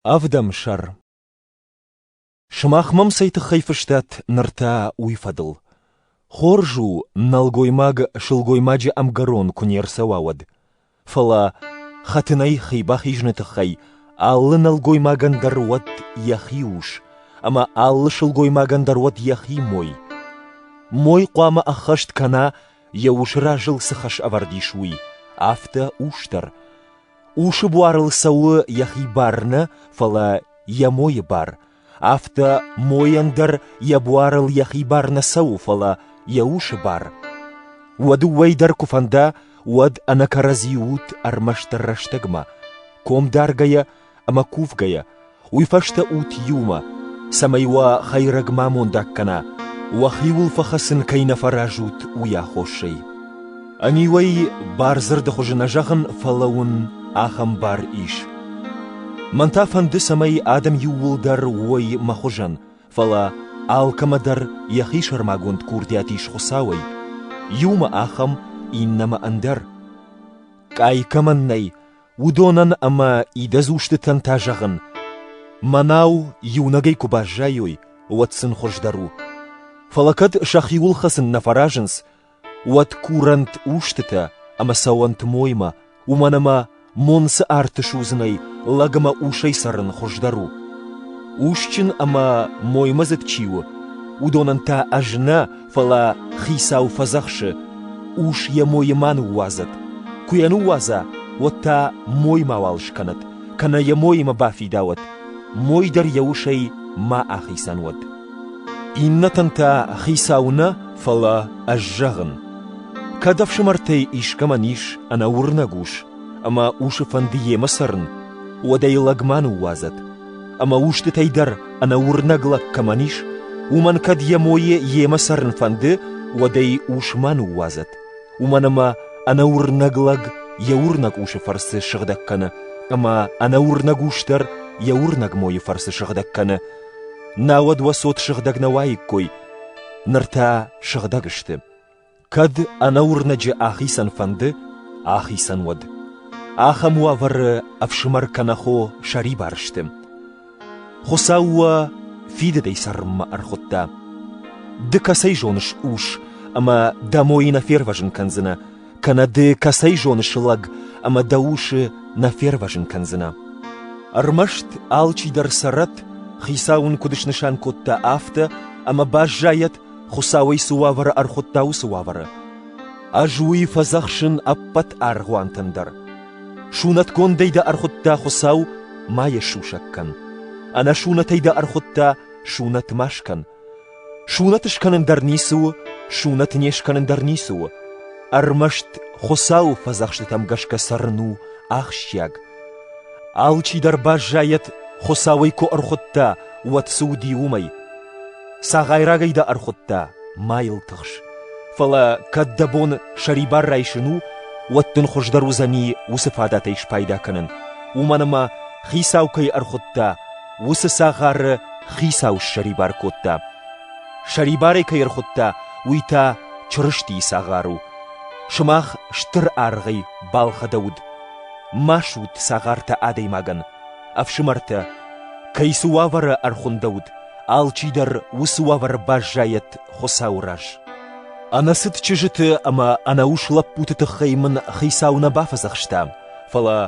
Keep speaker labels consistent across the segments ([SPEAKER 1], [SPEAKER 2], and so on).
[SPEAKER 1] Ӕвдӕмсӕр Сымах мӕм цӕй тыххӕй фыстат ныр та уый фӕдыл? Хорз у, нӕлгоймаг сылгоймаджы ӕмгӕрон куы не рцӕуа, уӕд. Фӕлӕ хӕтынӕй хи бахизыны тыххӕй алы нӕлгоймагӕн дӕр уӕд йӕхи ус, ӕмӕ алы сылгоймагӕн дӕр уӕд йӕхи мой. Мой хъуамӕ ӕххӕст кӕна, йӕ ус разыл цы хӕс ӕвӕрд ис, уый, афтӕ ус дӕр. Усы буарыл цӕуы йӕхи бар нӕ, фӕлӕ йӕ мойы бар, афтӕ мойӕн дӕр йӕ буарыл йӕхи бар нӕ цӕуы, фӕлӕ йӕ усы бар. Уӕ дыууӕй дӕр куы фӕнда, уӕд ӕнӕ кӕрӕдзи ут ӕрмӕстдӕр рӕстӕгмӕ, ком даргӕйӕ ӕмӕ кувгӕйӕ, уый фӕстӕ ут иумӕ, цӕмӕй уӕ хӕйрӕг ма мондаг кӕна, уӕхиуыл фӕхӕцын кӕй нӕ фӕразут, уый аххосӕй. Ӕниу ӕй бардзырды хуызы нӕ зӕгъын, фӕлӕ уын ахӕм бар ис. Мӕн та фӕнды, цӕмӕй адӕм иууылдӕр уой мӕ хуызӕн, фӕлӕ алкӕмӕ дӕр йӕхи сӕрмагонд курдиат ис Хуыцауӕй, иумӕ ахӕм, иннӕмӕ ӕндӕр. Къай кӕмӕн нӕй, уыдонӕн ӕмӕ идӕдз устытӕн та зӕгъын: мӕнау иунӕгӕй куы баззайой, уӕд сын хуыздӕр у. Фӕлӕ кӕд сӕхиуыл хӕцын нӕ фӕразынц, уӕд курӕнт устытӕ ӕмӕ цӕуӕнт моймӕ, уымӕн ӕмӕ мон цы арты судзынӕй, лӕг ӕмӕ усӕй цӕрын хуыздӕр у. Усджын ӕмӕ моймӕдзыд чи у, уыдонӕн та ӕз нӕ, Фӕлӕ хицау фӕдзӕхсы: ус йӕ мойы ма ныууадзӕд. Куы йӕ ныууадза, уӕд та мой мауал скӕнӕд, кӕнӕ йӕ моимӕ бафидауӕд, мой дӕр йӕ усӕй ма ахицӕн уӕд. Иннӕтӕн та хицау нӕ, фӕлӕ ӕз зӕгъын: кӕд ӕфсымӕртӕй искӕмӕн ис ӕнӕуырнӕг ус ӕмӕ усы фӕнды йемӕ цӕрын, уӕд ӕй лӕг ма ныууадзӕд, Ӕмӕ устытӕй дӕр ӕнӕ уырнӕг лӕг кӕмӕн ис, уымӕн кӕд йӕ мойы йемӕ цӕрын фӕнды, уӕд ӕй ус ма ныууадзӕд. Уымӕн ӕмӕ ӕнӕуырнӕг лӕг йӕ уырнӕг усы фӕрцы сыгъдӕг кӕны, ӕмӕ ӕнӕуырнӕг ус дӕр йӕ уырнӕг мойы фӕрцы сыгъдӕг кӕны. Науӕд уӕ цот сыгъдӕг нӕ уаиккой, ныр та сыгъдӕг сты. Кӕд ӕнӕуырнӕджы ахицӕн фӕнды, ахицӕн уӕд. Ахӕм уавӕры ӕфсымӕр кӕнӕ хо сӕрибар сты. Хуыцау уӕ фидыдӕй цӕрынмӕ ӕрхуыдта. Ды кӕцӕй зоныс ус, ӕмӕ дӕ мойы нӕ фервӕзын кӕндзынӕ, кӕнӕ ды кӕцӕй зоныс лӕг, ӕмӕ дӕ усы нӕ фервӕзын кӕндзынӕ. Ӕрмӕст алчидӕр цӕрӕт, Хицау ын куыд снысан кодта, афтӕ, ӕмӕ баззайӕт Хуыцауӕй цы уавӕры ӕрхуыдта, уыцы уавӕры. Ӕз уый фӕдзӕхсын ӕппӕт аргъуантӕн дӕр. Сунӕтгондӕй дӕ ӕрхуыдта Хуыцау, ма йӕ сусӕг кӕн. Ӕнӕсунӕтӕй дӕ ӕрхуыдта, сунӕт ма скӕн. Сунӕт скӕнын дӕр ницы у, сунӕт не скӕнын дӕр ницы у. Ӕрмӕст Хуыцауы фӕдзӕхстытӕм гӕсгӕ цӕрын у ахсджиаг, Алчидӕр баззайӕд, Хуыцауӕй куы ӕрхуыдта, уӕд цы уыди, уымӕй. Цагъайрагӕй дӕ ӕрхуыдта, ма йыл тыхс. Фӕлӕ, кӕд дӕ бон сӕрибар райсын у, уӕд дын хуыздӕр уыдзӕни уыцы фадатӕй спайда кӕнын, уымӕн ӕмӕ, Хицау кӕй ӕрхуыдта, уыцы цагъары Хицау ссӕрибар кодта. Сӕрибарӕй кӕй ӕрхуыдта, уый та Чырыстийы цагъар у. Сымах стыр аргъӕй балхӕдӕуыд. Масут цагъартӕ адӕймагӕн, ӕфсымӕртӕ, кӕй цы уавӕры ӕрхуындӕуыд, алчидӕр уыцы уавӕр баззайӕд Хуыцауы раз. Ӕнӕцыд чызджыты ӕмӕ ӕнӕус лӕппуты тыххӕй мын Хицау нӕ бафӕдзӕхста, фӕлӕ,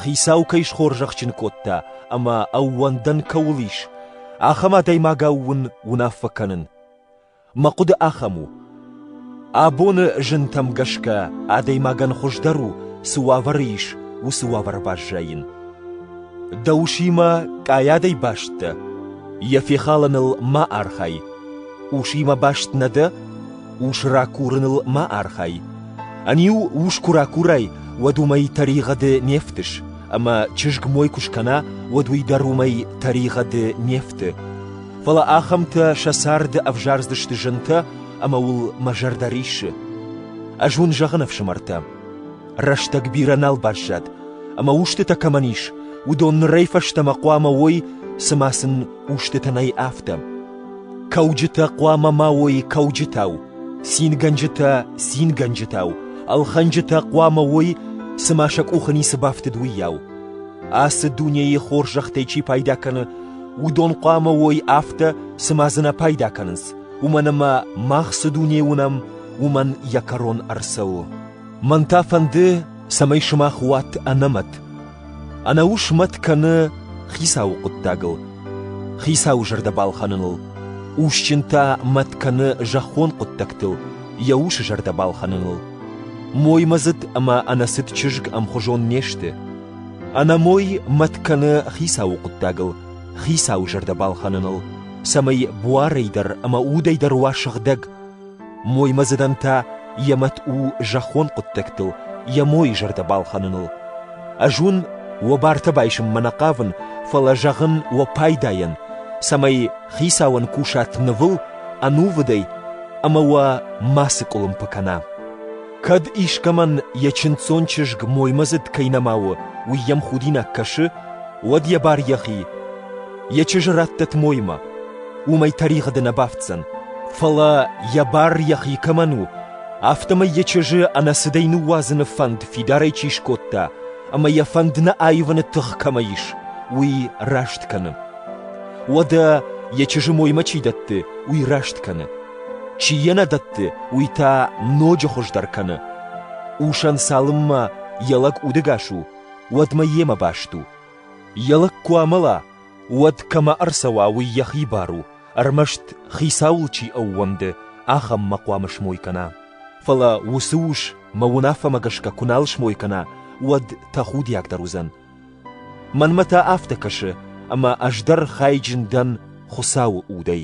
[SPEAKER 1] Хицау кӕй схорзӕхджын кодта ӕмӕ ӕууӕндӕн кӕуыл ис, ахӕм адӕймагау уын уынаффӕ кӕнын. Мӕ хъуыды ахӕм у: абоны зынтӕм гӕсгӕ адӕймагӕн хуыздӕр у, цы уавӕры ис, уыцы уавӕр баззайын. Дӕ усимӕ къайадӕй баст дӕ, йӕ фехалыныл ма архай. Усимӕ баст нӕ дӕ, ус ракурыныл ма архай. Ӕниу ус куы ракурай, уӕд уымӕй тӕригъӕды не фтыс, ӕмӕ чызг мой куы скӕна, уӕд уый дӕр уымӕй тӕригъӕды не фты. Фӕлӕ ахӕмтӕ сӕ царды ӕвзардзысты зынтӕ ӕмӕ уыл мӕ зӕрдӕ риссы. Ӕз уын зӕгъын, ӕфсымӕртӕ, рӕстӕг бирӕ нал баззад, ӕмӕ устытӕ кӕмӕн ис, уыдон нырӕй фӕстӕмӕ хъуамӕ уой, цыма сын устытӕ нӕй, афтӕ. Кӕуджытӕ хъуамӕ ма уой кӕуджытау, цингӕнджытӕ — цингӕнджытау, ӕлхӕнджытӕ хъуамӕ уой, цыма сӕ къухы ницы бафтыд, уыйау. Ацы дунейы хорзӕхтӕй чи пайда кӕны, Уыдон хъуамӕ уой афтӕ, цыма дзы нӕ пайда кӕнынц, уымӕн ӕмӕ мах цы дуне уынӕм, уымӕн йӕ кӕрон ӕрцӕуы. Мӕн та фӕнды, цӕмӕй сымах уат ӕнӕмӕт. Ӕнӕус мӕт кӕны Хицауы хъуыддагыл, Хицауы зӕрдӕ балхӕныныл. Усджын та мӕт кӕны зӕххон хъуыддӕгтыл, йӕ усы зӕрдӕ балхӕныныл. Моймӕдзыд ӕмӕ ӕнӕцыд чызг ӕмхуызон не сты. Ӕнӕмой мӕт кӕны хицауы хъуыддагыл, хицауы зӕрдӕ балхӕныныл, цӕмӕй буарӕй дӕр ӕмӕ удӕй дӕр уа сыгъдӕг. Моймӕдзыдӕн та йӕ мӕт у зӕххон хъуыддӕгтыл, йӕ мойы зӕрдӕ балхӕныныл. Ӕз уын уӕ бартӕ байсынмӕ нӕ хъавын, фӕлӕ зӕгъын уӕ пайдайӕн, цӕмӕй хицауӕн кусат нывыл, ӕнувыдӕй ӕмӕ уӕ мацы къуылымпы кӕна. Кӕд искӕмӕн йӕ чындздзон чызг моймӕдзыд кӕй нӕма у, уый йӕм худинаг кӕсы, уӕд йӕ бар йӕхи. Йӕ чызджы раттӕт моймӕ, уымӕй тӕригъӕды нӕ бафтдзӕн, фӕлӕ йӕ бар йӕхи кӕмӕн у, афтӕмӕй йӕ чызджы ӕнӕцыдӕй ныууадзыны фӕнд фидарӕй чи скодта ӕмӕ йӕ фӕнд нӕ аивыны тых кӕмӕ ис, уый раст кӕны. Уӕдӕ йӕ чызджы моймӕ чи дӕтты, уый раст кӕны. Чи йӕ нӕ дӕтты, уый та ноджы хуыздӕр кӕны. Усӕн цалынмӕ йӕ лӕг удӕгас у, уӕдмӕ йемӕ баст у. Йӕ лӕг куы амӕла, уӕд кӕмӕ ӕрцӕуа, уый йӕхи бар у, ӕрмӕст хицауыл чи ӕууӕнды, ахӕммӕ хъуамӕ смой кӕна. Фӕлӕ уыцы ус мӕ уынаффӕмӕ гӕсгӕ куы нал смой кӕна, уӕд тӕхудиагдӕр уыдзӕн – Мӕнмӕ та афтӕ кӕсы, ӕмӕ ӕз дӕр хайджын дӕн Хуыцауы удӕй.